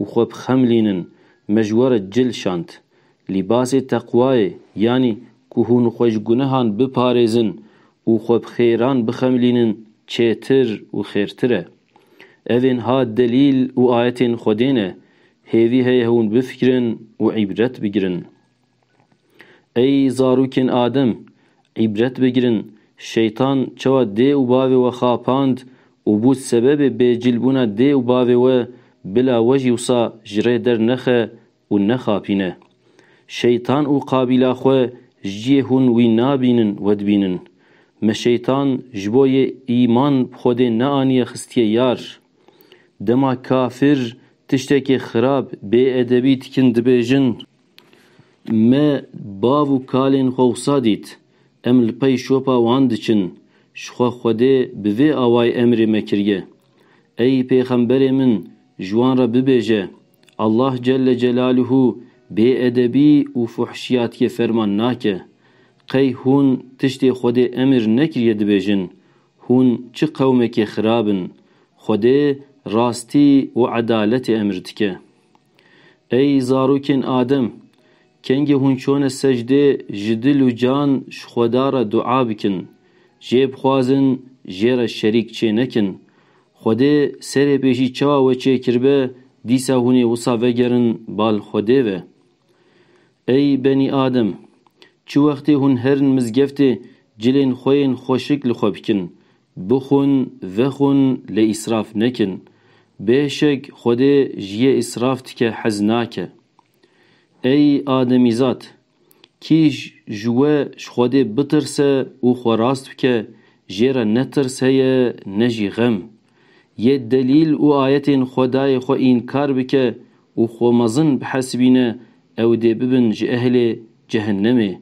Û xwe bixemlînin, me ji we re cil şand. Lîbasê teqwayê, yanî ku hûn xwe ji gunehan biparêzin û xwe bi xêran bixemlînin çêtir û xêrtir e. Evên ha delîl û ayetên Xwedê ne, hêvî heye hûn bifikirin û îbret bigirin. Ey zarokên Adem! Îbret bigirin, Şeytan çawa dê û bavê we xapand û bû sebebê bêcîlbûna dê û bavê we bila we jî wisa ji rê dernexe û nexapîne. Şeytan û qabîla xwe ji cihê hûn wî nabînin we dibînin. Me Şeytan ji bo yê îman bi Xwedê neaniye xistiye yar. Dema kafir tiştekê xirab, bêedebî dikin dibêjin. Me bav û kalên xwe wisa dît, em li pey şopa wan diçin, ji xwe Xwedê bi vê awayê emrê me kiriye, Ey pêxemberê min ji wan re bibêje, Allah Celle Celaluhu bêedebî û fuhşiyatiyê ferman nake. Qey hûn tiştê Xwedê emir nekiriye dibêjin, Hûn çi qewmekê xirab in. Xwedê rastî û edaletê emir dike. Ey zarokên Adem! Kengî hûn çone secdê ji dil û can ji Xweda re dua bikin, jê bixwazin jê re şerîk çê nekin. Xwedê serê pêşî çawa we çê kiribe dîsa hûn ê wisa vegerin bal Xwedê ve. Ey benî Adem! Çi wextê hûn herin mizgeftê cilên xwe yên xweşik li xwe bikin, Bixwin, vexwin lê îsraf nekin. Bêşek Xwedê ji yê îsraf tike hez nake. Ey ademîzad! Kîj ji we ji Xwedê bitirse û xwe rast bike, jê re ne tirs heye ne jî xem. Yê delîl û ayetên Xwedayê xwe înkar bike û xwe mezin bihesibîne ew dê bibin ji ehlê cehennemê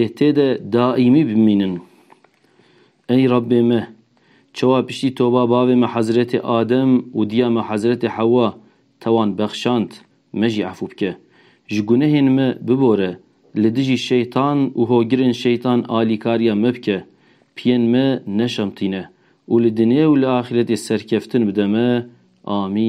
ê tê de daîmî bimînin. Ey Rabbê me! Çawa piştî toba bavê me Hezretê Adem û diya me Hezretê Hewa te wan bexşand, me jî efû bike. Ji gunehên me bibore, li dijî şeytan û hogirên şeytan alîkariya me bike, piyên me neşemtîne û li dinyê û li axîretê serkeftin bide me. Amîn.